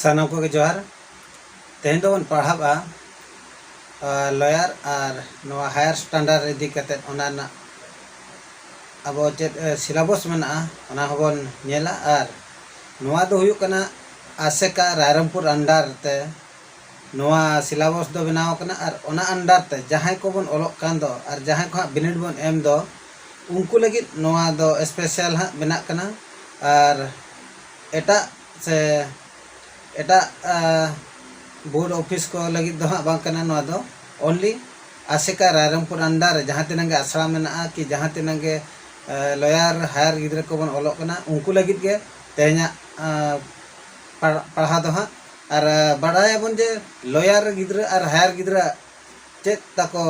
ᱥᱟᱱᱟᱢ ᱠᱚᱜᱮ ᱡᱚᱦᱟᱨ ᱛᱮᱦᱮᱧ ᱫᱚᱵᱚᱱ ᱯᱟᱲᱦᱟᱜᱼᱟ ᱞᱚᱭᱟᱨ ᱟᱨ ᱱᱚᱣᱟ ᱦᱟᱭᱟᱨ ᱥᱴᱟᱱᱰᱟᱨᱰ ᱤᱫᱤ ᱠᱟᱛᱮ ᱚᱱᱟ ᱨᱮᱱᱟᱜ ᱟᱵᱚ ᱪᱮᱫ ᱥᱤᱞᱟᱵᱚᱥ ᱢᱮᱱᱟᱜᱼᱟ ᱚᱱᱟ ᱦᱚᱸᱵᱚᱱ ᱧᱮᱞᱟ ᱟᱨ ᱱᱚᱣᱟ ᱫᱚ ᱦᱩᱭᱩᱜ ᱠᱟᱱᱟ ᱟᱥᱮᱠᱟ ᱨᱟᱭᱨᱚᱝᱯᱩᱨ ᱟᱱᱰᱟᱨ ᱛᱮ ᱱᱚᱣᱟ ᱥᱤᱞᱟᱵᱚᱥ ᱫᱚ ᱵᱮᱱᱟᱣ ᱟᱠᱟᱱᱟ ᱟᱨ ᱚᱱᱟ ᱟᱱᱰᱟᱨ ᱛᱮ ᱡᱟᱦᱟᱸᱭ ᱠᱚᱵᱚᱱ ᱚᱞᱚᱜ ᱠᱟᱱ ᱫᱚ ᱟᱨ ᱡᱟᱦᱟᱸᱭ ᱠᱚ ᱦᱟᱸᱜ ᱵᱤᱱᱤᱰ ᱵᱚᱱ ᱮᱢ ᱫᱚ ᱩᱱᱠᱩ ᱞᱟᱹᱜᱤᱫ ᱱᱚᱣᱟ ᱫᱚ ᱥᱯᱮᱥᱟᱞ ᱦᱟᱸᱜ ᱵᱮᱱᱟᱜ ᱠᱟᱱᱟ ᱟᱨ ᱮᱴᱟᱜ ᱥᱮ ᱮᱴᱟᱜ ᱵᱳᱨᱰ ᱚᱯᱷᱤᱥ ᱠᱚ ᱞᱟᱹᱜᱤᱫ ᱫᱚ ᱦᱟᱸᱜ ᱵᱟᱝ ᱠᱟᱱᱟ ᱱᱚᱣᱟ ᱫᱚ ᱚᱱᱞᱤ ᱟᱥᱮᱠᱟ ᱨᱟᱭᱨᱚᱝᱯᱩᱨ ᱟᱱᱰᱟᱨ ᱨᱮ ᱡᱟᱦᱟᱸ ᱛᱤᱱᱟᱹᱜ ᱜᱮ ᱟᱥᱲᱟ ᱢᱮᱱᱟᱜᱼᱟ ᱠᱤ ᱡᱟᱦᱟᱸ ᱛᱤᱱᱟᱹᱜ ᱜᱮ ᱞᱚᱭᱟᱨ ᱦᱟᱭᱟᱨ ᱜᱤᱫᱽᱨᱟᱹ ᱠᱚᱵᱚᱱ ᱚᱞᱚᱜ ᱠᱟᱱᱟ ᱩᱱᱠᱩ ᱞᱟᱹᱜᱤᱫ ᱜᱮ ᱛᱮᱦᱮᱧᱟᱜ ᱯᱟᱲᱦᱟᱣ ᱫᱚ ᱦᱟᱸᱜ ᱟᱨ ᱵᱟᱲᱟᱭᱟᱵᱚᱱ ᱡᱮ ᱞᱚᱭᱟᱨ ᱜᱤᱫᱽᱨᱟᱹ ᱟᱨ ᱦᱟᱭᱟᱨ ᱜᱤᱫᱽᱨᱟᱹ ᱟᱜ ᱪᱮᱫ ᱛᱟᱠᱚ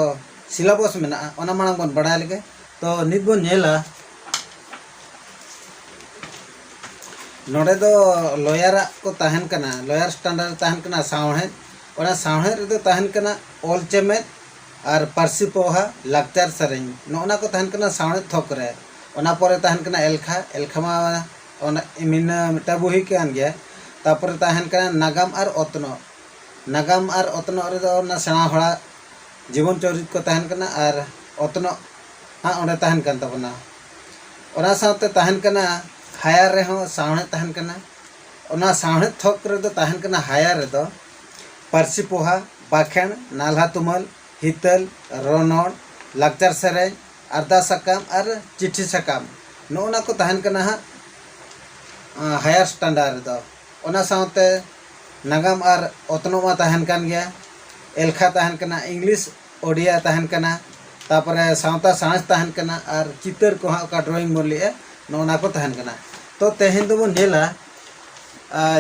ᱥᱤᱞᱟᱵᱚᱥ ᱢᱮᱱᱟᱜᱼᱟ ᱚᱱᱟ ᱢᱟᱲᱟᱝ ᱵᱚᱱ ᱵᱟᱲᱟᱭ ᱞᱮᱜᱮ ᱛᱚ ᱱᱤᱛ ᱵᱚᱱ ᱧᱮᱞᱟ ᱱᱚᱰᱮ ᱫᱚ ᱞᱚᱭᱟᱨᱟᱜ ᱠᱚ ᱛᱟᱦᱮᱱ ᱠᱟᱱᱟ ᱞᱚᱭᱟᱨ ᱥᱴᱟᱱᱰᱟᱨᱰ ᱛᱟᱦᱮᱱ ᱠᱟᱱᱟ ᱥᱟᱶᱦᱮᱫ ᱚᱱᱟ ᱥᱟᱶᱦᱮᱫ ᱨᱮᱫᱚ ᱛᱟᱦᱮᱱ ᱠᱟᱱᱟ ᱚᱞ ᱪᱮᱢᱮᱫ ᱟᱨ ᱯᱟᱹᱨᱥᱤ ᱯᱚᱦᱟ ᱞᱟᱠᱪᱟᱨ ᱥᱮᱨᱮᱧ ᱱᱚᱜᱼᱚᱱᱟ ᱠᱚ ᱛᱟᱦᱮᱱ ᱠᱟᱱᱟ ᱥᱟᱶᱦᱮᱫ ᱛᱷᱚᱠ ᱨᱮ ᱚᱱᱟ ᱯᱚᱨᱮ ᱛᱟᱦᱮᱱ ᱠᱟᱱᱟ ᱮᱞᱠᱷᱟ ᱮᱞᱠᱷᱟ ᱢᱟ ᱚᱱᱟ ᱢᱤᱫᱴᱟᱝ ᱵᱩᱦᱤ ᱠᱟᱱ ᱜᱮᱭᱟ ᱛᱟᱯᱚᱨᱮ ᱛᱟᱦᱮᱱ ᱠᱟᱱᱟ ᱱᱟᱜᱟᱢ ᱟᱨ ᱚᱛᱱᱚᱜ ᱱᱟᱜᱟᱢ ᱟᱨ ᱚᱛᱱᱚᱜ ᱨᱮᱫᱚ ᱚᱱᱟ ᱥᱮᱬᱟ ᱦᱚᱲᱟᱜ ᱡᱤᱵᱚᱱ ᱪᱚᱨᱤᱛ ᱠᱚ ᱛᱟᱦᱮᱱ ᱠᱟᱱᱟ ᱟᱨ ᱚᱛᱱᱚᱜ ᱦᱟᱸᱜ ᱚᱸᱰᱮ ᱛᱟᱦᱮᱱ ᱠᱟᱱ ᱛᱟᱵᱚᱱᱟ ᱚᱱᱟ ᱥᱟᱶᱛᱮ ᱛᱟᱦᱮᱱ ᱠᱟᱱᱟ ᱦᱟᱭᱟᱨ ᱨᱮᱦᱚᱸ ᱥᱟᱶᱦᱮᱫ ᱛᱟᱦᱮᱱ ᱠᱟᱱᱟ ᱚᱱᱟ ᱥᱟᱶᱦᱮᱫ ᱛᱷᱚᱠ ᱨᱮᱫᱚ ᱛᱟᱦᱮᱱ ᱠᱟᱱᱟ ᱦᱟᱭᱟᱨ ᱨᱮᱫᱚ ᱯᱟᱹᱨᱥᱤ ᱯᱚᱦᱟ ᱵᱟᱠᱷᱮᱬ ᱱᱟᱞᱦᱟ ᱛᱩᱢᱟᱹᱞ ᱦᱤᱛᱟᱹᱞ ᱨᱚᱱᱚᱲ ᱞᱟᱠᱪᱟᱨ ᱥᱮᱨᱮᱧ ᱟᱨᱫᱟᱥ ᱥᱟᱠᱟᱢ ᱟᱨ ᱪᱤᱴᱷᱤ ᱥᱟᱠᱟᱢ ᱱᱚᱜᱼᱚ ᱱᱟ ᱠᱚ ᱛᱟᱦᱮᱱ ᱠᱟᱱᱟ ᱦᱟᱸᱜ ᱦᱟᱭᱟᱨ ᱥᱴᱟᱱᱰᱟᱨ ᱨᱮᱫᱚ ᱚᱱᱟ ᱥᱟᱶᱛᱮ ᱱᱟᱜᱟᱢ ᱟᱨ ᱚᱛᱱᱚᱜ ᱢᱟ ᱛᱟᱦᱮᱱ ᱠᱟᱱ ᱜᱮᱭᱟ ᱮᱞᱠᱷᱟ ᱛᱟᱦᱮᱱ ᱠᱟᱱᱟ ᱤᱝᱞᱤᱥ ᱳᱰᱤᱭᱟ ᱛᱟᱦᱮᱱ ᱠᱟᱱᱟ ᱛᱟᱯᱚᱨᱮ ᱥᱟᱶᱛᱟ ᱥᱟᱬᱮᱥ ᱛᱟᱦᱮᱱ ᱠᱟᱱᱟ ᱟᱨ ᱪᱤᱛᱟᱹᱨ ᱠᱚ ᱦᱟᱸᱜ ᱚᱠᱟ ᱰᱨᱚᱭᱤᱝ ᱵᱚᱱ ᱞᱟᱹᱭᱮᱜᱼᱟ ᱱᱚᱜᱼᱚ ᱱᱟ ᱠᱚ ᱛᱟᱦᱮᱱ ᱠᱟᱱᱟ ᱛᱚ ᱛᱮᱦᱮᱧ ᱫᱚᱵᱚᱱ ᱧᱮᱞᱟ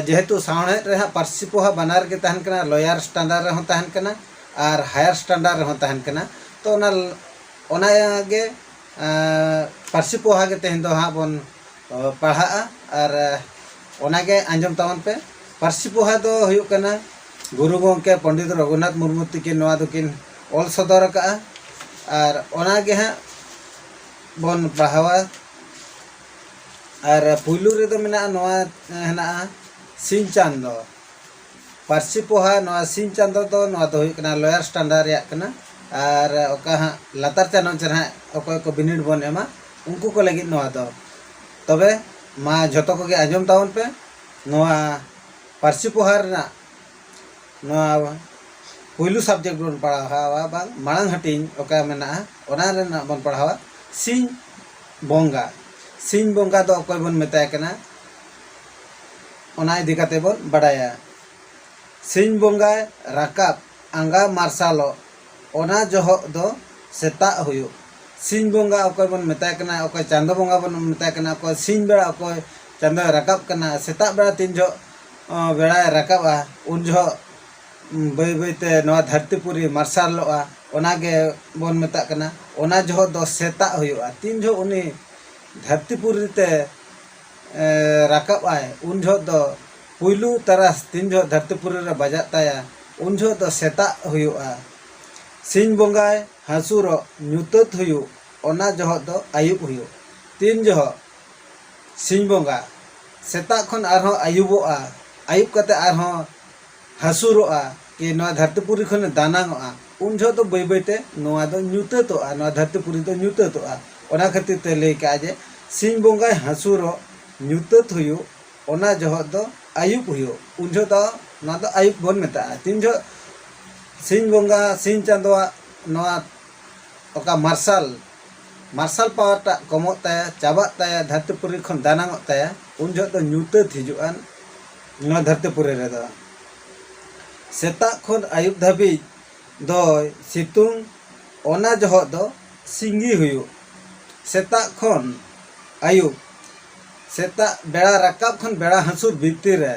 ᱡᱮᱦᱮᱛᱩ ᱥᱟᱶᱦᱮᱫ ᱨᱮ ᱦᱟᱸᱜ ᱯᱟᱹᱨᱥᱤ ᱯᱚᱦᱟ ᱵᱟᱱᱟᱨ ᱜᱮ ᱛᱟᱦᱮᱱ ᱠᱟᱱᱟ ᱞᱚᱭᱟᱨ ᱥᱴᱟᱱᱰᱟᱨᱰ ᱨᱮᱦᱚᱸ ᱛᱟᱦᱮᱱ ᱠᱟᱱᱟ ᱟᱨ ᱦᱟᱭᱟᱨ ᱥᱴᱟᱱᱰᱟᱨᱰ ᱨᱮᱦᱚᱸ ᱛᱟᱦᱮᱱ ᱠᱟᱱᱟ ᱛᱚ ᱚᱱᱟ ᱚᱱᱟ ᱜᱮ ᱯᱟᱹᱨᱥᱤ ᱯᱚᱦᱟ ᱜᱮ ᱛᱮᱦᱮᱧ ᱫᱚ ᱦᱟᱸᱜ ᱵᱚᱱ ᱯᱟᱲᱦᱟᱜᱼᱟ ᱟᱨ ᱚᱱᱟᱜᱮ ᱟᱸᱡᱚᱢ ᱛᱟᱵᱚᱱ ᱯᱮ ᱯᱟᱹᱨᱥᱤ ᱯᱚᱦᱟ ᱫᱚ ᱦᱩᱭᱩᱜ ᱠᱟᱱᱟ ᱜᱩᱨᱩ ᱜᱚᱢᱠᱮ ᱯᱚᱱᱰᱤᱛ ᱨᱚᱜᱷᱩᱱᱟᱛᱷ ᱢᱩᱨᱢᱩ ᱛᱤᱠᱤᱱ ᱱᱚᱣᱟ ᱫᱚᱠᱤᱱ ᱚᱞ ᱥᱚᱫᱚᱨ ᱟᱠᱟᱫᱼᱟ ᱟᱨ ᱚᱱᱟᱜᱮ ᱦᱟᱸᱜ ᱵᱚᱱ ᱯᱟᱲᱦᱟᱣᱟ ᱟᱨ ᱯᱩᱭᱞᱩ ᱨᱮᱫᱚ ᱢᱮᱱᱟᱜᱼᱟ ᱱᱚᱣᱟ ᱦᱮᱱᱟᱜᱼᱟ ᱥᱤᱧ ᱪᱟᱸᱫᱚ ᱯᱟᱹᱨᱥᱤ ᱯᱚᱦᱟ ᱱᱚᱣᱟ ᱥᱤᱧ ᱪᱟᱸᱫᱚ ᱫᱚ ᱱᱚᱣᱟ ᱫᱚ ᱦᱩᱭᱩᱜ ᱠᱟᱱᱟ ᱞᱚᱭᱟᱨ ᱥᱴᱟᱱᱰᱟᱨ ᱨᱮᱭᱟᱜ ᱠᱟᱱᱟ ᱟᱨ ᱚᱠᱟ ᱦᱟᱸᱜ ᱞᱟᱛᱟᱨ ᱪᱟᱱᱟᱪ ᱨᱮ ᱦᱟᱸᱜ ᱚᱠᱚᱭ ᱠᱚ ᱵᱤᱱᱤᱰ ᱵᱚᱱ ᱮᱢᱟ ᱩᱱᱠᱩ ᱠᱚ ᱞᱟᱹᱜᱤᱫ ᱱᱚᱣᱟ ᱫᱚ ᱛᱚᱵᱮ ᱢᱟ ᱡᱷᱚᱛᱚ ᱠᱚᱜᱮ ᱟᱸᱡᱚᱢ ᱛᱟᱵᱚᱱ ᱯᱮ ᱱᱚᱣᱟ ᱯᱟᱹᱨᱥᱤ ᱯᱚᱦᱟ ᱨᱮᱱᱟᱜ ᱱᱚᱣᱟ ᱯᱩᱭᱞᱩ ᱥᱟᱵᱽᱡᱮᱠᱴ ᱵᱚᱱ ᱯᱟᱲᱦᱟᱣᱟ ᱵᱟᱝ ᱢᱟᱲᱟᱝ ᱦᱟᱹᱴᱤᱧ ᱚᱠᱟ ᱢᱮᱱᱟᱜᱼᱟ ᱚᱱᱟ ᱨᱮᱱᱟᱜ ᱵᱚᱱ ᱯᱟᱲᱦᱟᱣᱟ ᱥᱤᱧ ᱵᱚᱸᱜᱟ ᱥᱤᱧ ᱵᱚᱸᱜᱟ ᱫᱚ ᱚᱠᱚᱭ ᱵᱚᱱ ᱢᱮᱛᱟᱭ ᱠᱟᱱᱟ ᱚᱱᱟ ᱤᱫᱤ ᱠᱟᱛᱮ ᱵᱚᱱ ᱵᱟᱰᱟᱭᱟ ᱥᱤᱧ ᱵᱚᱸᱜᱟᱭ ᱨᱟᱠᱟᱵ ᱟᱸᱜᱟ ᱢᱟᱨᱥᱟᱞᱚᱜ ᱚᱱᱟ ᱡᱚᱦᱚᱜ ᱫᱚ ᱥᱮᱛᱟᱜ ᱦᱩᱭᱩᱜ ᱥᱤᱧ ᱵᱚᱸᱜᱟ ᱚᱠᱚᱭ ᱵᱚᱱ ᱢᱮᱛᱟᱭ ᱠᱟᱱᱟ ᱚᱠᱚᱭ ᱪᱟᱸᱫᱚ ᱵᱚᱸᱜᱟ ᱵᱚᱱ ᱢᱮᱛᱟᱭ ᱠᱟᱱᱟ ᱚᱠᱚᱭ ᱥᱤᱧ ᱵᱮᱲᱟ ᱚᱠᱚᱭ ᱪᱟᱸᱫᱚᱭ ᱨᱟᱠᱟᱵ ᱠᱟᱱᱟ ᱥᱮᱛᱟᱜ ᱵᱮᱲᱟ ᱛᱤᱱ ᱡᱚᱦᱚᱜ ᱵᱮᱲᱟᱭ ᱨᱟᱠᱟᱵᱟ ᱩᱱ ᱡᱚᱦᱚᱜ ᱵᱟᱹᱭ ᱵᱟᱹᱭ ᱛᱮ ᱱᱚᱣᱟ ᱫᱷᱟᱹᱨᱛᱤ ᱯᱩᱨᱤ ᱢᱟᱨᱥᱟᱞᱚᱜᱼᱟ ᱚᱱᱟ ᱜᱮ ᱵᱚᱱ ᱢᱮᱛᱟᱜ ᱠᱟᱱᱟ ᱚᱱᱟ ᱡᱚᱦᱚᱜ ᱫᱚ ᱥᱮᱛᱟᱜ ᱦᱩᱭᱩᱜᱼᱟ ᱛᱤᱱ ᱡᱚᱦᱚᱜ ᱩᱱᱤ ᱫᱷᱟᱹᱨᱛᱤ ᱯᱩᱨᱤ ᱛᱮ ᱨᱟᱠᱟᱵ ᱟᱭ ᱩᱱ ᱡᱚᱦᱚᱜ ᱫᱚ ᱯᱩᱭᱞᱩ ᱛᱟᱨᱟᱥ ᱛᱤᱱ ᱡᱚᱦᱚᱜ ᱫᱷᱟᱹᱨᱛᱤ ᱯᱩᱨᱤ ᱨᱮ ᱵᱟᱡᱟᱜ ᱛᱟᱭᱟ ᱩᱱ ᱡᱚᱦᱚᱜ ᱫᱚ ᱥᱮᱛᱟᱜ ᱦᱩᱭᱩᱜᱼᱟ ᱥᱤᱧ ᱵᱚᱸᱜᱟᱭ ᱦᱟᱹᱥᱩᱨᱚᱜ ᱧᱩᱛᱟᱹᱛ ᱦᱩᱭᱩᱜ ᱚᱱᱟ ᱡᱚᱦᱚᱜ ᱫᱚ ᱟᱹᱭᱩᱵ ᱦᱩᱭᱩᱜ ᱛᱤᱱ ᱡᱚᱦᱚᱜ ᱥᱤᱧ ᱵᱚᱸᱜᱟ ᱥᱮᱛᱟᱜ ᱠᱷᱚᱱ ᱟᱨᱦᱚᱸ ᱟᱹᱭᱩᱵᱚᱜᱼᱟ ᱟᱹᱭᱩᱵ ᱠᱟᱛᱮ ᱟᱨᱦᱚᱸ ᱦᱟᱹᱥᱩᱨᱚᱜᱼᱟ ᱠᱤ ᱱᱚᱣᱟ ᱫᱷᱟᱹᱨᱛᱤ ᱯᱩᱨᱤ ᱠᱷᱚᱱᱮ ᱫᱟᱱᱟᱝᱚᱜᱼᱟ ᱩᱱ ᱡᱚᱦᱚᱜ ᱫᱚ ᱵᱟᱹᱭ ᱵᱟᱹᱭ ᱛᱮ ᱱᱚᱣᱟ ᱫᱚ ᱧᱩᱛᱟᱹᱛᱚᱜᱼᱟ ᱱᱚᱣᱟ ᱫᱷᱟᱹᱨᱛᱤ ᱯᱩᱨᱤ ᱫᱚ ᱧᱩᱛᱟᱹᱛᱚᱜᱼᱟ ᱚᱱᱟ ᱠᱷᱟᱹᱛᱤᱨ ᱛᱮ ᱞᱟᱹᱭ ᱠᱟᱜᱼᱟ ᱡᱮ ᱥᱤᱧ ᱵᱚᱸᱜᱟᱭ ᱦᱟᱹᱥᱩᱨᱚᱜ ᱧᱩᱛᱟᱹᱛ ᱦᱩᱭᱩᱜ ᱚᱱᱟ ᱡᱚᱦᱚᱜ ᱫᱚ ᱟᱹᱭᱩᱵ ᱦᱩᱭᱩᱜ ᱩᱱ ᱡᱚᱦᱚᱜ ᱫᱚ ᱱᱚᱣᱟ ᱫᱚ ᱟᱹᱭᱩᱵ ᱵᱚᱱ ᱢᱮᱛᱟᱜᱼᱟ ᱛᱤᱱ ᱡᱚᱦᱚᱜ ᱥᱤᱧ ᱵᱚᱸᱜᱟ ᱥᱤᱧ ᱪᱟᱸᱫᱚᱣᱟᱜ ᱱᱚᱣᱟ ᱚᱠᱟ ᱢᱟᱨᱥᱟᱞ ᱢᱟᱨᱥᱟᱞ ᱯᱟᱣᱟᱨ ᱴᱟᱜ ᱠᱚᱢᱚᱜ ᱛᱟᱭᱟ ᱪᱟᱵᱟᱜ ᱛᱟᱭᱟ ᱫᱷᱟᱹᱨᱛᱤ ᱯᱩᱨᱤ ᱠᱷᱚᱱ ᱫᱟᱱᱟᱝᱚᱜ ᱛᱟᱭᱟ ᱩᱱ ᱡᱚᱦᱚᱜ ᱫᱚ ᱧᱩᱛᱟᱹᱛ ᱦᱤᱡᱩᱜᱼᱟ ᱱᱚᱣᱟ ᱫᱷᱟᱹᱨᱛᱤ ᱯᱩᱨᱤ ᱨᱮᱫᱚ ᱥᱮᱛᱟᱜ ᱠᱷᱚᱱ ᱟᱹᱭᱩᱵ ᱫᱷᱟᱹᱵᱤᱡ ᱫᱚᱭ ᱥᱤᱛᱩᱝ ᱚᱱᱟ ᱡᱚᱦᱚᱜ ᱫᱚ ᱥᱤᱸᱜᱤ ᱦᱩᱭᱩᱜ ᱥᱮᱛᱟᱜ ᱠᱷᱚᱱ ᱟᱹᱭᱩᱵ ᱥᱮᱛᱟᱜ ᱵᱮᱲᱟ ᱨᱟᱠᱟᱵ ᱠᱷᱚᱱ ᱵᱮᱲᱟ ᱦᱟᱹᱥᱩᱨ ᱵᱷᱤᱛᱤᱨ ᱨᱮ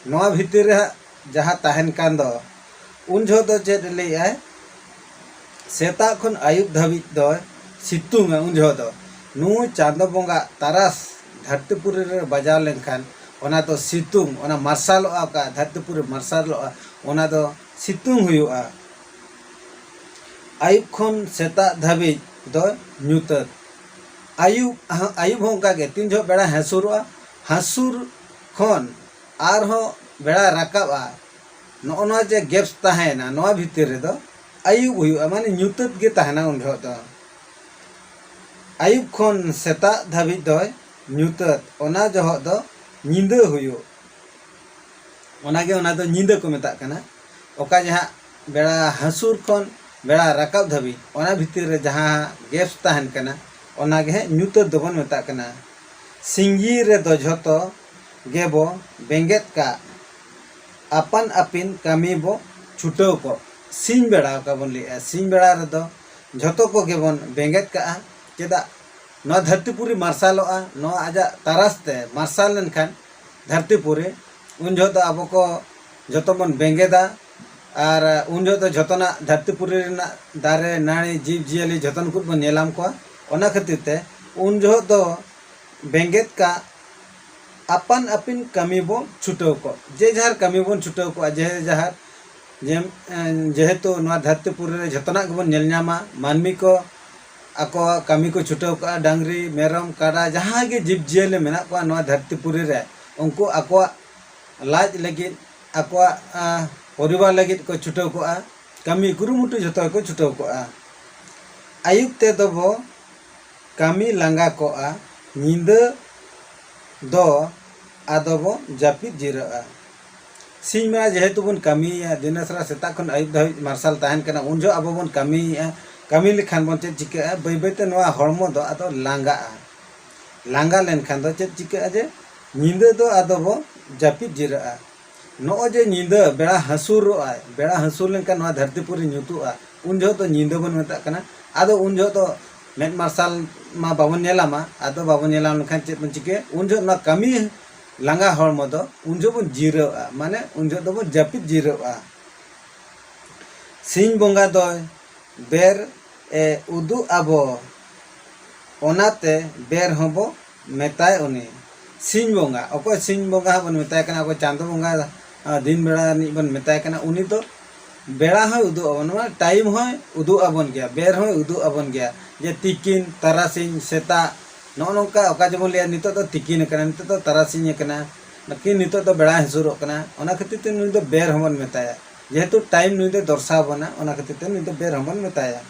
ᱱᱚᱣᱟ ᱵᱷᱤᱛᱤᱨ ᱨᱮ ᱦᱟᱸᱜ ᱡᱟᱦᱟᱸ ᱛᱟᱦᱮᱱ ᱠᱟᱱ ᱫᱚ ᱩᱱ ᱡᱚᱦᱚᱜ ᱫᱚ ᱪᱮᱫ ᱮ ᱞᱟᱹᱭᱮᱫ ᱟᱭ ᱥᱮᱛᱟᱜ ᱠᱷᱚᱱ ᱟᱹᱭᱩᱵ ᱫᱷᱟᱹᱵᱤᱡ ᱫᱚᱭ ᱥᱤᱛᱩᱝᱼᱟ ᱩᱱ ᱡᱚᱦᱚᱜ ᱫᱚ ᱱᱩᱭ ᱪᱟᱸᱫᱚ ᱵᱚᱸᱜᱟ ᱛᱟᱨᱟᱥ ᱫᱷᱟᱹᱨᱛᱤ ᱯᱩᱨᱤ ᱨᱮ ᱵᱟᱡᱟᱣ ᱞᱮᱱᱠᱷᱟᱱ ᱚᱱᱟ ᱫᱚ ᱥᱤᱛᱩᱝ ᱚᱱᱟ ᱢᱟᱨᱥᱟᱞᱚᱜᱼᱟ ᱚᱠᱟ ᱫᱷᱟᱹᱨᱛᱤ ᱯᱩᱨᱤ ᱢᱟᱨᱥᱟᱞᱚᱜᱼᱟ ᱚᱱᱟ ᱫᱚ ᱥᱤᱛᱩᱝ ᱦᱩᱭᱩᱜᱼᱟ ᱟᱹᱭᱩᱵ ᱠᱷᱚᱱ ᱥᱮᱛᱟᱜ ᱫᱷᱟᱹᱵᱤᱡ ᱫᱚ ᱧᱩᱛᱟᱹᱛ ᱟᱹᱭᱩᱵ ᱟᱹᱭᱩᱵ ᱦᱚᱸ ᱚᱱᱠᱟ ᱜᱮ ᱛᱤᱱ ᱡᱚᱦᱚᱜ ᱵᱮᱲᱟᱭ ᱦᱟᱹᱥᱩᱨᱚᱜᱼᱟ ᱦᱟᱹᱥᱩᱨ ᱠᱷᱚᱱ ᱟᱨᱦᱚᱸ ᱵᱮᱲᱟᱭ ᱨᱟᱠᱟᱵᱼᱟ ᱱᱚᱜᱼᱚ ᱱᱚᱣᱟ ᱡᱮ ᱜᱮᱯᱥ ᱛᱟᱦᱮᱸᱭᱮᱱᱟ ᱱᱚᱣᱟ ᱵᱷᱤᱛᱤᱨ ᱨᱮᱫᱚ ᱟᱹᱭᱩᱵ ᱦᱩᱭᱩᱜᱼᱟ ᱢᱟᱱᱮ ᱧᱩᱛᱟᱹᱛ ᱜᱮ ᱛᱟᱦᱮᱱᱟ ᱩᱱ ᱡᱚᱦᱚᱜ ᱫᱚ ᱟᱹᱭᱩᱵ ᱠᱷᱚᱱ ᱥᱮᱛᱟᱜ ᱫᱷᱟᱹᱵᱤᱡ ᱫᱚᱭ ᱧᱩᱛᱟᱹᱛ ᱚᱱᱟ ᱡᱚᱦᱚᱜ ᱫᱚ ᱧᱤᱫᱟᱹ ᱦᱩᱭᱩᱜ ᱚᱱᱟᱜᱮ ᱚᱱᱟ ᱫᱚ ᱧᱤᱫᱟᱹ ᱠᱚ ᱢᱮᱛᱟᱜ ᱠᱟᱱᱟ ᱚᱠᱟ ᱡᱮ ᱦᱟᱸᱜ ᱵᱮᱲᱟ ᱦᱟᱹᱥᱩᱨ ᱠᱷᱚᱱ ᱵᱮᱲᱟ ᱨᱟᱠᱟᱵ ᱫᱷᱟᱹᱵᱤᱡ ᱚᱱᱟ ᱵᱷᱤᱛᱤᱨ ᱨᱮ ᱡᱟᱦᱟᱸ ᱜᱮᱯᱥ ᱛᱟᱦᱮᱱ ᱠᱟᱱᱟ ᱚᱱᱟ ᱜᱮ ᱦᱟᱸᱜ ᱧᱩᱛᱟᱹᱛ ᱫᱚᱵᱚᱱ ᱢᱮᱛᱟᱜ ᱠᱟᱱᱟ ᱥᱤᱧ ᱨᱮᱫᱚ ᱡᱷᱚᱛᱚ ᱜᱮᱵᱚ ᱵᱮᱸᱜᱮᱫ ᱠᱟᱜ ᱟᱯᱟᱱ ᱟᱹᱯᱤᱱ ᱠᱟᱹᱢᱤ ᱵᱚ ᱪᱷᱩᱴᱟᱹᱣ ᱠᱚᱜ᱾ ᱥᱤᱧ ᱵᱮᱲᱟ ᱚᱠᱟ ᱵᱚᱱ ᱞᱟᱹᱭᱮᱜᱼᱟ ᱥᱤᱧ ᱵᱮᱲᱟ ᱨᱮᱫᱚ ᱡᱷᱚᱛᱚ ᱠᱚᱜᱮ ᱵᱚᱱ ᱵᱮᱸᱜᱮᱫ ᱠᱟᱜᱼᱟ᱾ ᱪᱮᱫᱟᱜ ᱱᱚᱣᱟ ᱫᱷᱟᱹᱨᱛᱤ ᱯᱩᱨᱤ ᱢᱟᱨᱥᱟᱞᱚᱜᱼᱟ ᱱᱚᱣᱟ ᱟᱡᱟᱜ ᱛᱟᱨᱟᱥ ᱛᱮ ᱢᱟᱨᱥᱟᱞ ᱞᱮᱱᱠᱷᱟᱱ ᱫᱷᱟᱹᱨᱛᱤ ᱯᱩᱨᱤ ᱩᱱ ᱡᱚᱦᱚᱜ ᱫᱚ ᱟᱵᱚ ᱠᱚ ᱡᱷᱚᱛᱚ ᱵᱚᱱ ᱵᱮᱸᱜᱮᱫᱟ ᱟᱨ ᱩᱱ ᱡᱚᱦᱚᱜ ᱫᱚ ᱡᱷᱚᱛᱚᱱᱟᱜ ᱫᱷᱟᱹᱨᱛᱤ ᱯᱩᱨᱤ ᱨᱮᱱᱟᱜ ᱫᱟᱨᱮ ᱱᱟᱹᱲᱤ ᱡᱤᱵᱽ ᱡᱤᱭᱟᱹᱞᱤ ᱡᱷᱚᱛᱚ ᱱᱩᱠᱩ ᱵᱚᱱ ᱧᱮᱞᱟᱢ ᱠᱚᱣᱟ ᱚᱱᱟ ᱠᱷᱟᱹᱛᱤᱨ ᱛᱮ ᱩᱱ ᱡᱚᱦᱚᱜ ᱫᱚ ᱵᱮᱸᱜᱮᱫ ᱠᱟᱜ ᱟᱯᱟᱱ ᱟᱹᱯᱤᱱ ᱠᱟᱹᱢᱤ ᱵᱚ ᱪᱷᱩᱴᱟᱹᱣ ᱠᱚᱜ ᱡᱮ ᱡᱟᱦᱟᱨ ᱠᱟᱹᱢᱤ ᱵᱚᱱ ᱪᱷᱩᱴᱟᱹᱣ ᱠᱚᱜᱼᱟ ᱡᱮ ᱡᱟᱦᱟᱨ ᱡᱮᱦᱮᱛᱩ ᱱᱚᱣᱟ ᱫᱷᱟᱹᱨᱛᱤ ᱯᱩᱨᱤ ᱨᱮ ᱡᱚᱛᱚᱱᱟᱜ ᱜᱮᱵᱚᱱ ᱧᱮᱞ ᱧᱟᱢᱟ ᱢᱟᱹᱱᱢᱤ ᱠᱚ ᱟᱠᱚᱣᱟᱜ ᱠᱟᱹᱢᱤ ᱠᱚ ᱪᱷᱩᱴᱟᱹᱣ ᱠᱚᱜᱼᱟ ᱰᱟᱝᱨᱤ ᱢᱮᱨᱚᱢ ᱠᱟᱰᱟ ᱡᱟᱦᱟᱸᱭ ᱜᱮ ᱡᱤᱵᱽ ᱡᱤᱭᱟᱹᱞᱤ ᱢᱮᱱᱟᱜ ᱠᱚᱣᱟ ᱱᱚᱣᱟ ᱫᱷᱟᱹᱨᱛᱤ ᱯᱩᱨᱤ ᱨᱮ ᱩᱱᱠᱩ ᱟᱠᱚᱣᱟᱜ ᱞᱟᱡ ᱞᱟᱹᱜᱤᱫ ᱟᱠᱚᱣᱟᱜ ᱯᱚᱨᱤᱵᱟᱨ ᱞᱟᱹᱜᱤᱫ ᱠᱚ ᱪᱷᱩᱴᱟᱹᱣ ᱠᱚᱜᱼᱟ ᱠᱟᱹᱢᱤ ᱠᱩᱨᱩᱢᱩᱴᱩ ᱡᱚᱛᱚ ᱜᱮᱠᱚ ᱪᱷᱩᱴᱟᱹᱣ ᱠᱚᱜᱼᱟ ᱟᱹᱭᱩᱵ ᱛᱮᱫᱚ ᱵᱚ ᱠᱟᱹᱢᱤ ᱞᱟᱸᱜᱟ ᱠᱚᱜᱼᱟ ᱧᱤᱫᱟᱹ ᱫᱚ ᱟᱫᱚ ᱵᱚ ᱡᱟᱹᱯᱤᱫ ᱡᱤᱨᱟᱹᱜᱼᱟ᱾ ᱥᱤᱧ ᱵᱮᱲᱟ ᱡᱮᱦᱮᱛᱩ ᱵᱚᱱ ᱠᱟᱹᱢᱤᱭᱮᱫᱼᱟ ᱫᱤᱱᱟᱹᱥᱟᱨᱟ ᱥᱮᱛᱟᱜ ᱠᱷᱚᱱ ᱟᱹᱭᱩᱵ ᱫᱷᱟᱹᱵᱤᱡ ᱢᱟᱨᱥᱟᱞ ᱛᱟᱦᱮᱱ ᱠᱟᱱᱟ ᱩᱱ ᱡᱚᱦᱚᱜ ᱟᱵᱚ ᱵᱚᱱ ᱠᱟᱹᱢᱤᱭᱮᱫᱼᱟ ᱠᱟᱹᱢᱤ ᱞᱮᱠᱷᱟᱱ ᱵᱚᱱ ᱪᱮᱫ ᱪᱤᱠᱟᱹᱜᱼᱟ ᱵᱟᱹᱭ ᱵᱟᱹᱭ ᱛᱮ ᱱᱚᱣᱟ ᱦᱚᱲᱢᱚ ᱫᱚ ᱟᱫᱚ ᱞᱟᱸᱜᱟᱜᱼᱟ ᱞᱟᱸᱜᱟ ᱞᱮᱱᱠᱷᱟᱱ ᱫᱚ ᱪᱮᱫ ᱪᱤᱠᱟᱹᱜᱼᱟ ᱡᱮ ᱧᱤᱫᱟᱹ ᱫᱚ ᱟᱫᱚ ᱵᱚ ᱡᱟᱹᱯᱤᱫ ᱡᱤᱨᱟᱹᱜᱼᱟ᱾ ᱱᱚᱜᱼᱚᱭ ᱡᱮ ᱧᱤᱫᱟᱹ ᱵᱮᱲᱟ ᱦᱟᱹᱥᱩᱨᱚᱜ ᱟᱭ ᱵᱮᱲᱟ ᱦᱟᱹᱥᱩᱨ ᱞᱮᱱᱠᱷᱟᱱ ᱱᱚᱣᱟ ᱫᱷᱟᱹᱨᱛᱤ ᱯᱩᱨᱤ ᱧᱩᱛᱩᱜᱼᱟ ᱩᱱ ᱡᱚᱦᱚᱜ ᱫᱚ ᱧᱤᱫᱟᱹ ᱵᱚᱱ ᱢᱮᱛᱟᱜ ᱠᱟᱱᱟ ᱟᱫᱚ ᱩᱱ ᱡᱚᱦᱚᱜ ᱫᱚ ᱢᱮᱫ ᱢᱟᱨᱥᱟᱞ ᱢᱟ ᱵᱟᱵᱚᱱ ᱧᱮᱞᱟ ᱢᱟ ᱟᱫᱚ ᱵᱟᱵᱚᱱ ᱧᱮᱞᱟ ᱞᱮᱱᱠᱷᱟᱱ ᱪᱮᱫ ᱵᱚᱱ ᱪᱤᱠᱟᱹᱭᱟ ᱩᱱ ᱡᱚᱦᱚᱜ ᱱᱚᱣᱟ ᱠᱟᱹᱢᱤ ᱞᱟᱸᱜᱟ ᱦᱚᱲᱢᱚ ᱫᱚ ᱩᱱ ᱡᱚᱦᱚᱜ ᱵᱚᱱ ᱡᱤᱨᱟᱹᱜᱼᱟ ᱢᱟᱱᱮ ᱩᱱ ᱡᱚᱦᱚᱜ ᱫᱚᱵᱚᱱ ᱡᱟᱹᱯᱤᱫ ᱡᱤᱨᱟᱹᱜᱼᱟ ᱥᱤᱧ ᱵᱚᱸᱜᱟ ᱫᱚᱭ ᱵᱮᱨ ᱮ ᱩᱫᱩᱜ ᱟᱵᱚ ᱚᱱᱟᱛᱮ ᱵᱮᱨ ᱦᱚᱸᱵᱚ ᱢᱮᱛᱟᱭ ᱩᱱᱤ ᱥᱤᱧ ᱵᱚᱸᱜᱟ ᱚᱠᱚᱭ ᱥᱤᱧ ᱵᱚᱸᱜᱟ ᱦᱚᱸ ᱵᱚᱱ ᱢᱮᱛᱟᱭ ᱠᱟᱱᱟ ᱚᱠᱚᱭ ᱪᱟᱸᱫᱚ ᱵᱚᱸᱜᱟ ᱫᱤᱱ ᱵᱮᱲᱟ ᱨᱤᱱᱤᱡ ᱵᱚᱱ ᱢᱮᱛᱟᱭ ᱠᱟᱱᱟ ᱩᱱᱤ ᱫᱚ ᱵᱮᱲᱟ ᱦᱚᱸᱭ ᱩᱫᱩᱜ ᱟᱵᱚᱱᱟ ᱢᱟᱱᱮ ᱴᱟᱭᱤᱢ ᱦᱚᱸᱭ ᱩᱫᱩᱜ ᱟᱵᱚᱱ ᱜᱮᱭᱟ ᱵᱮᱨ ᱦᱚᱸᱭ ᱩᱫᱩᱜ ᱟᱵᱚᱱ ᱜᱮᱭᱟ ᱡᱮ ᱛᱤᱠᱤᱱ ᱛᱟᱨᱟᱥᱤᱧ ᱥᱮᱛᱟᱜ ᱱᱚᱜᱼᱚ ᱱᱚᱝᱠᱟ ᱚᱠᱟ ᱡᱮᱵᱚᱱ ᱞᱟᱹᱭᱟ ᱱᱤᱛᱳᱜ ᱫᱚ ᱛᱤᱠᱤᱱ ᱟᱠᱟᱱᱟ ᱱᱤᱛᱳᱜ ᱫᱚ ᱛᱟᱨᱟᱥᱤᱧ ᱟᱠᱟᱱᱟ ᱠᱤ ᱱᱤᱛᱳᱜ ᱫᱚ ᱵᱮᱲᱟᱭ ᱦᱟᱹᱥᱩᱨᱚᱜ ᱠᱟᱱᱟ ᱚᱱᱟ ᱠᱷᱟᱹᱛᱤᱨ ᱛᱮ ᱱᱩᱭ ᱫᱚ ᱵᱮᱨ ᱦᱚᱸ ᱵᱚᱱ ᱢᱮᱛᱟᱭᱟ ᱡᱮᱦᱮᱛᱩ ᱴᱟᱭᱤᱢ ᱱᱩᱭ ᱫᱚᱭ ᱫᱚᱨᱥᱟᱣ ᱟᱵᱚᱱᱟ ᱚᱱᱟ ᱠᱷᱟᱹᱛᱤᱨ ᱛᱮ ᱱᱩᱭ ᱫᱚ ᱵᱮᱨ ᱦᱚᱸ ᱵᱚᱱ ᱢᱮᱛᱟᱭᱟ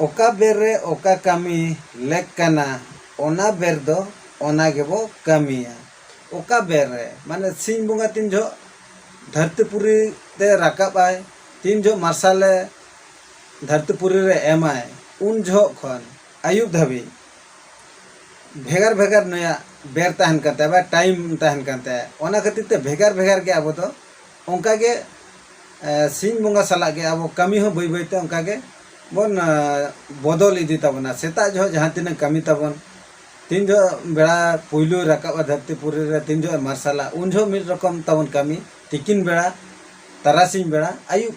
ᱚᱠᱟ ᱵᱮᱨ ᱨᱮ ᱚᱠᱟ ᱠᱟᱹᱢᱤ ᱞᱮᱠ ᱠᱟᱱᱟ ᱚᱱᱟ ᱵᱮᱨ ᱫᱚ ᱚᱱᱟ ᱜᱮᱵᱚ ᱠᱟᱹᱢᱤᱭᱟ ᱚᱠᱟ ᱵᱮᱨ ᱨᱮ ᱢᱟᱱᱮ ᱥᱤᱧ ᱵᱚᱸᱜᱟ ᱛᱤᱱ ᱡᱚᱦᱚᱜ ᱫᱷᱟᱹᱨᱛᱤ ᱯᱩᱨᱤ ᱛᱮ ᱨᱟᱠᱟᱵ ᱟᱭ ᱛᱤᱱ ᱡᱚᱦᱚᱜ ᱢᱟᱨᱥᱟᱞᱮ ᱫᱷᱟᱹᱨᱛᱤ ᱯᱩᱨᱤ ᱨᱮ ᱮᱢᱟᱭ ᱩᱱ ᱡᱚᱦᱚᱜ ᱠᱷᱚᱱ ᱟᱹᱭᱩᱵ ᱫᱷᱟᱹᱵᱤᱡ ᱵᱷᱮᱜᱟᱨ ᱵᱷᱮᱜᱟᱨ ᱱᱩᱭᱟᱜ ᱵᱮᱨ ᱛᱟᱦᱮᱱ ᱠᱟᱱ ᱛᱟᱭᱟ ᱵᱟ ᱴᱟᱭᱤᱢ ᱛᱟᱦᱮᱱ ᱠᱟᱱ ᱛᱟᱭᱟ ᱚᱱᱟ ᱠᱷᱟᱹᱛᱤᱨ ᱛᱮ ᱵᱷᱮᱜᱟᱨ ᱵᱷᱮᱜᱟᱨ ᱜᱮ ᱟᱵᱚ ᱫᱚ ᱚᱱᱠᱟ ᱜᱮ ᱥᱤᱧ ᱵᱚᱸᱜᱟ ᱥᱟᱞᱟᱜ ᱜᱮ ᱟᱵᱚ ᱠᱟᱹᱢᱤ ᱦᱚᱸ ᱵᱟᱹᱭ ᱵᱟᱹᱭ ᱛᱮ ᱚᱱᱠᱟ ᱜᱮ ᱵᱚᱱ ᱵᱚᱫᱚᱞ ᱤᱫᱤ ᱛᱟᱵᱚᱱᱟ ᱥᱮᱛᱟᱜ ᱡᱚᱦᱚᱜ ᱡᱟᱦᱟᱸ ᱛᱤᱱᱟᱹᱜ ᱠᱟᱹᱢᱤ ᱛᱟᱵᱚᱱ ᱛᱤᱱ ᱡᱚᱦᱚᱜ ᱵᱮᱲᱟ ᱯᱩᱭᱞᱩ ᱨᱟᱠᱟᱵᱟ ᱫᱷᱟᱹᱨᱛᱤ ᱯᱩᱨᱤ ᱨᱮ ᱛᱤᱱ ᱡᱚᱦᱚᱜ ᱢᱟᱨᱥᱟᱞᱟ ᱩᱱ ᱡᱚᱦᱚᱜ ᱢᱤᱫ ᱨᱚᱠᱚᱢ ᱛᱟᱵᱚᱱ ᱠᱟᱹᱢᱤ ᱛᱤᱠᱤᱱ ᱵᱮᱲᱟ ᱛᱟᱨᱟᱥᱤᱧ ᱵᱮᱲᱟ ᱟᱹᱭᱩᱵ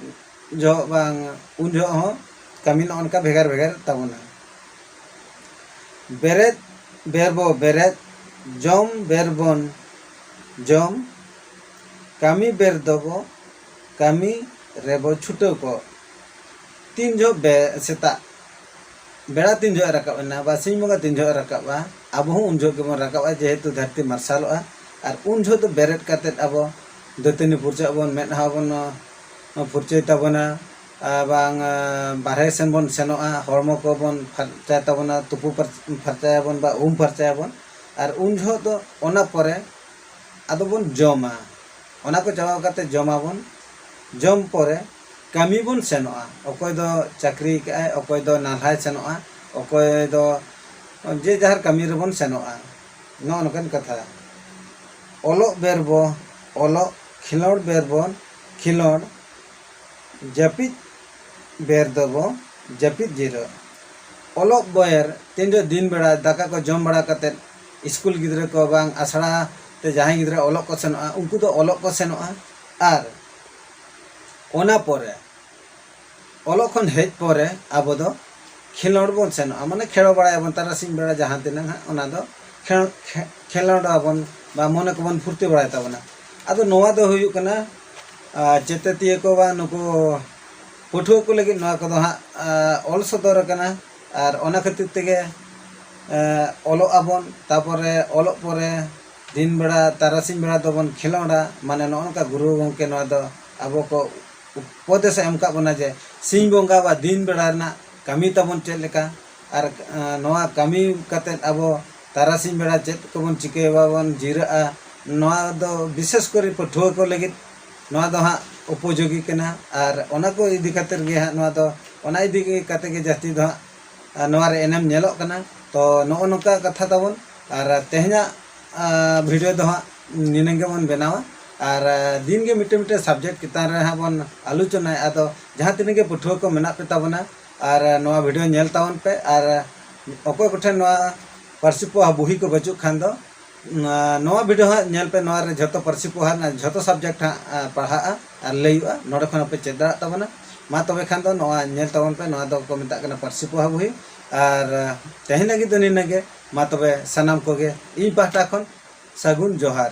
ᱡᱚᱦᱚᱜ ᱵᱟᱝ ᱩᱱ ᱡᱚᱦᱚᱜ ᱦᱚᱸ ᱠᱟᱹᱢᱤ ᱱᱚᱜᱼᱚ ᱱᱚᱝᱠᱟ ᱵᱷᱮᱜᱟᱨ ᱵᱷᱮᱜᱟᱨ ᱛᱟᱵᱚᱱᱟ ᱵᱮᱨᱮᱫ ᱵᱮᱨ ᱵᱚ ᱵᱮᱨᱮᱫ ᱡᱚᱢ ᱵᱮᱨ ᱵᱚᱱ ᱡᱚᱢ ᱠᱟᱹᱢᱤ ᱵᱮᱨ ᱫᱚᱵᱚ ᱠᱟᱹᱢᱤ ᱨᱮᱵᱚ ᱪᱷᱩᱴᱟᱹᱣ ᱠᱚᱜ᱾ ᱛᱤᱱ ᱡᱚᱦᱚᱜ ᱵᱮ ᱥᱮᱛᱟᱜ ᱵᱮᱲᱟ ᱛᱤᱱ ᱡᱚᱦᱚᱜ ᱮ ᱨᱟᱠᱟᱵ ᱮᱱᱟ ᱵᱟ ᱥᱤᱧ ᱵᱚᱸᱜᱟ ᱛᱤᱱ ᱡᱚᱦᱚᱜ ᱮ ᱨᱟᱠᱟᱵᱼᱟ ᱟᱵᱚ ᱦᱚᱸ ᱩᱱ ᱡᱚᱦᱚᱜ ᱜᱮᱵᱚᱱ ᱨᱟᱠᱟᱵᱼᱟ ᱡᱮᱦᱮᱛᱩ ᱫᱷᱟᱹᱨᱛᱤ ᱢᱟᱨᱥᱟᱞᱚᱜᱼᱟ ᱟᱨ ᱩᱱ ᱡᱚᱦᱚᱜ ᱫᱚ ᱵᱮᱨᱮᱫ ᱠᱟᱛᱮ ᱟᱵᱚ ᱫᱟᱹᱛᱟᱹᱱᱤ ᱯᱷᱩᱨᱪᱟᱹᱜ ᱟᱵᱚᱱ ᱢᱮᱫᱦᱟ ᱵᱚᱱ ᱯᱷᱩᱨᱪᱟᱹᱭ ᱛᱟᱵᱚᱱᱟ ᱮᱵᱚᱝ ᱵᱟᱨᱦᱮ ᱥᱮᱱ ᱵᱚᱱ ᱥᱮᱱᱚᱜᱼᱟ ᱦᱚᱲᱢᱚ ᱠᱚ ᱵᱚᱱ ᱯᱷᱟᱨᱪᱟᱭ ᱛᱟᱵᱚᱱᱟ ᱛᱩᱯᱩ ᱯᱷᱟᱨᱪᱟᱭᱟᱵᱚᱱ ᱵᱟ ᱩᱢ ᱯᱷᱟᱨᱪᱟᱭᱟᱵᱚᱱ ᱟᱨ ᱩᱱ ᱡᱚᱦᱚᱜ ᱫᱚ ᱚᱱᱟ ᱯᱚᱨᱮ ᱟᱫᱚ ᱵᱚᱱ ᱡᱚᱢᱟ ᱚᱱᱟ ᱠᱚ ᱪᱟᱵᱟ ᱠᱟᱛᱮ ᱡᱚᱢᱟᱵᱚᱱ ᱡᱚᱢ ᱯᱚᱨᱮ ᱠᱟᱹᱢᱤ ᱵᱚᱱ ᱥᱮᱱᱚᱜᱼᱟ ᱚᱠᱚᱭ ᱫᱚ ᱪᱟᱹᱠᱨᱤ ᱠᱟᱜ ᱟᱭ ᱚᱠᱚᱭ ᱫᱚ ᱱᱟᱞᱦᱟᱭ ᱥᱮᱱᱚᱜᱼᱟ ᱚᱠᱚᱭ ᱫᱚ ᱡᱮ ᱡᱟᱦᱟᱨ ᱠᱟᱹᱢᱤ ᱨᱮᱵᱚᱱ ᱥᱮᱱᱚᱜᱼᱟ ᱱᱚᱜᱼᱚ ᱱᱚᱝᱠᱟᱱ ᱠᱟᱛᱷᱟ ᱚᱞᱚᱜ ᱵᱮᱨ ᱵᱚ ᱚᱞᱚᱜ ᱠᱷᱮᱞᱳᱰ ᱵᱮᱨ ᱵᱚᱱ ᱠᱷᱮᱞᱳᱰ ᱡᱟᱹᱯᱤᱫ ᱵᱮᱨ ᱫᱚᱵᱚ ᱡᱟᱹᱯᱤᱫ ᱡᱤᱨᱟᱹᱜ ᱚᱞᱚᱜ ᱵᱮᱨ ᱛᱤᱱᱨᱮ ᱫᱤᱱ ᱵᱮᱲᱟ ᱫᱟᱠᱟ ᱠᱚ ᱡᱚᱢ ᱵᱟᱲᱟ ᱠᱟᱛᱮ ᱥᱠᱩᱞ ᱜᱤᱫᱽᱨᱟᱹ ᱠᱚ ᱵᱟᱝ ᱟᱥᱲᱟ ᱛᱮ ᱡᱟᱦᱟᱸᱭ ᱜᱤᱫᱽᱨᱟᱹ ᱚᱞᱚᱜ ᱠᱚ ᱥᱮᱱᱚᱜᱼᱟ ᱩᱱᱠᱩ ᱫᱚ ᱚᱞᱚᱜ ᱠᱚ ᱥᱮᱱᱚᱜᱼᱟ ᱟᱨ ᱚᱱᱟ ᱯᱚᱨᱮ ᱚᱞᱚᱜ ᱠᱷᱚᱱ ᱦᱮᱡ ᱯᱚᱨᱮ ᱟᱵᱚ ᱫᱚ ᱠᱷᱮᱞᱳᱰ ᱵᱚᱱ ᱥᱮᱱᱚᱜᱼᱟ ᱢᱟᱱᱮ ᱠᱷᱮᱞᱳ ᱵᱟᱲᱟᱭᱟᱵᱚᱱ ᱛᱟᱨᱟᱥᱤᱧ ᱵᱮᱲᱟ ᱡᱟᱦᱟᱸ ᱛᱤᱱᱟᱹᱜ ᱦᱟᱸᱜ ᱚᱱᱟ ᱫᱚ ᱠᱷᱮᱞᱳᱰ ᱟᱵᱚᱱ ᱵᱟ ᱢᱚᱱᱮ ᱠᱚᱵᱚᱱ ᱯᱷᱩᱨᱛᱤ ᱵᱟᱲᱟᱭ ᱛᱟᱵᱚᱱᱟ ᱟᱫᱚ ᱱᱚᱣᱟ ᱫᱚ ᱦᱩᱭᱩᱜ ᱠᱟᱱᱟ ᱪᱮᱛᱮᱛᱤᱭᱟᱹ ᱠᱚ ᱵᱟᱝ ᱱᱩᱠᱩ ᱯᱟᱹᱴᱷᱩᱣᱟᱹ ᱠᱚ ᱞᱟᱹᱜᱤᱫ ᱱᱚᱣᱟ ᱠᱚᱫᱚ ᱦᱟᱸᱜ ᱚᱞ ᱥᱚᱫᱚᱨ ᱟᱠᱟᱱᱟ ᱟᱨ ᱚᱱᱟ ᱠᱷᱟᱹᱛᱤᱨ ᱛᱮᱜᱮ ᱚᱞᱚᱜ ᱟᱵᱚᱱ ᱛᱟᱯᱚᱨᱮ ᱚᱞᱚᱜ ᱯᱚᱨᱮ ᱫᱤᱱ ᱵᱮᱲᱟ ᱛᱟᱨᱟᱥᱤᱧ ᱵᱮᱲᱟ ᱫᱚᱵᱚᱱ ᱠᱷᱮᱞᱳᱰᱟ ᱢᱟᱱᱮ ᱱᱚᱜᱼᱚ ᱱᱚᱝᱠᱟ ᱜᱩᱨᱩ ᱜᱚᱢᱠᱮ ᱱᱚᱣᱟ ᱫᱚ ᱟᱵᱚ ᱠᱚ ᱩᱯᱚᱫᱮᱥᱮ ᱮᱢ ᱟᱠᱟᱫ ᱵᱚᱱᱟ ᱡᱮ ᱥᱤᱧ ᱵᱚᱸᱜᱟ ᱵᱟ ᱫᱤᱱ ᱵᱮᱲᱟ ᱨᱮᱱᱟᱜ ᱠᱟᱹᱢᱤ ᱛᱟᱵᱚᱱ ᱪᱮᱫ ᱞᱮᱠᱟ ᱟᱨ ᱱᱚᱣᱟ ᱠᱟᱹᱢᱤ ᱠᱟᱛᱮᱫ ᱟᱵᱚ ᱛᱟᱨᱟᱥᱤᱧ ᱵᱮᱲᱟ ᱪᱮᱫ ᱠᱚᱵᱚᱱ ᱪᱤᱠᱟᱹᱭᱟ ᱵᱟᱵᱚᱱ ᱡᱤᱨᱟᱹᱜᱼᱟ ᱱᱚᱣᱟ ᱫᱚ ᱵᱤᱥᱮᱥ ᱠᱚᱨᱮ ᱯᱟᱹᱴᱷᱩᱣᱟᱹ ᱠᱚ ᱞᱟᱹᱜᱤᱫ ᱱᱚᱣᱟ ᱫᱚ ᱦᱟᱸᱜ ᱩᱯᱚᱡᱳᱜᱤ ᱠᱟᱱᱟ ᱟᱨ ᱚᱱᱟ ᱠᱚ ᱤᱫᱤ ᱠᱟᱛᱮ ᱜᱮ ᱦᱟᱸᱜ ᱱᱚᱣᱟ ᱫᱚ ᱚᱱᱟ ᱤᱫᱤ ᱠᱟᱛᱮ ᱜᱮ ᱡᱟᱹᱥᱛᱤ ᱫᱚ ᱦᱟᱸᱜ ᱱᱚᱣᱟ ᱨᱮ ᱮᱱᱮᱢ ᱧᱮᱞᱚᱜ ᱠᱟᱱᱟ ᱛᱚ ᱱᱚᱜᱼᱚ ᱱᱚᱝᱠᱟ ᱠᱟᱛᱷᱟ ᱛᱟᱵᱚᱱ ᱟᱨ ᱛᱮᱦᱮᱧᱟᱜ ᱵᱷᱤᱰᱤᱭᱳ ᱫᱚ ᱦᱟᱸᱜ ᱱᱤᱱᱟᱹᱝ ᱜᱮᱵᱚᱱ ᱵᱮᱱᱟᱣᱟ ᱟᱨ ᱫᱤᱱ ᱜᱮ ᱢᱤᱫᱴᱮᱱ ᱢᱤᱫᱴᱮᱱ ᱥᱟᱵᱡᱮᱠᱴ ᱪᱮᱛᱟᱱ ᱨᱮ ᱦᱟᱸᱜ ᱵᱚᱱ ᱟᱞᱳᱪᱚᱱᱟᱭᱟ ᱟᱫᱚ ᱡᱟᱦᱟᱸ ᱛᱤᱱᱟᱹᱜ ᱜᱮ ᱯᱟᱹᱴᱷᱩᱣᱟᱹ ᱠᱚ ᱢᱮᱱᱟᱜ ᱯᱮ ᱛᱟᱵᱚᱱᱟ ᱟᱨ ᱱᱚᱣᱟ ᱵᱷᱤᱰᱤᱭᱳ ᱧᱮᱞ ᱛᱟᱵᱚᱱ ᱯᱮ ᱟᱨ ᱚᱠᱚᱭ ᱠᱚᱴᱷᱮᱱ ᱱᱚᱣᱟ ᱯᱟᱹᱨᱥᱤ ᱯᱚᱦᱟ ᱵᱩᱦᱤ ᱠᱚ ᱵᱟᱹᱪᱩᱜ ᱠᱷᱟᱱ ᱫᱚ ᱱᱚᱣᱟ ᱵᱷᱤᱰᱤᱭᱳ ᱦᱟᱸᱜ ᱧᱮᱞ ᱯᱮ ᱱᱚᱣᱟ ᱨᱮ ᱡᱷᱚᱛᱚ ᱯᱟᱹᱨᱥᱤ ᱯᱚᱦᱟ ᱨᱮᱱᱟᱜ ᱡᱷᱚᱛᱚ ᱥᱟᱵᱡᱮᱠᱴ ᱦᱟᱸᱜ ᱯᱟᱲᱦᱟᱜᱼᱟ ᱟᱨ ᱞᱟᱹᱭᱩᱜᱼᱟ ᱱᱚᱰᱮ ᱠᱷᱚᱱ ᱯᱮ ᱪᱮᱫ ᱫᱟᱲᱮᱭᱟᱜ ᱛᱟᱵᱚᱱᱟ ᱢᱟ ᱛᱚᱵᱮ ᱠᱷᱟᱱ ᱫᱚ ᱱᱚᱣᱟ ᱧᱮᱞ ᱛᱟᱵᱚᱱ ᱯᱮ ᱱᱚᱣᱟ ᱫᱚ ᱠᱚ ᱢᱮᱛᱟᱜ ᱠᱟᱱᱟ ᱯᱟᱹᱨᱥᱤ ᱯᱚᱦᱟ ᱵᱩᱦᱤ ᱟᱨ ᱛᱮᱦᱮᱧ ᱞᱟᱹᱜᱤᱫ ᱫᱚ ᱱᱤᱱᱟᱹᱜ ᱜᱮ ᱢᱟ ᱛᱚᱵᱮ ᱥᱟᱱᱟᱢ ᱠᱚᱜᱮ ᱤᱧ ᱯᱟᱦᱴᱟ ᱠᱷᱚᱱ ᱥᱟᱹᱜᱩᱱ ᱡᱚᱦᱟᱨ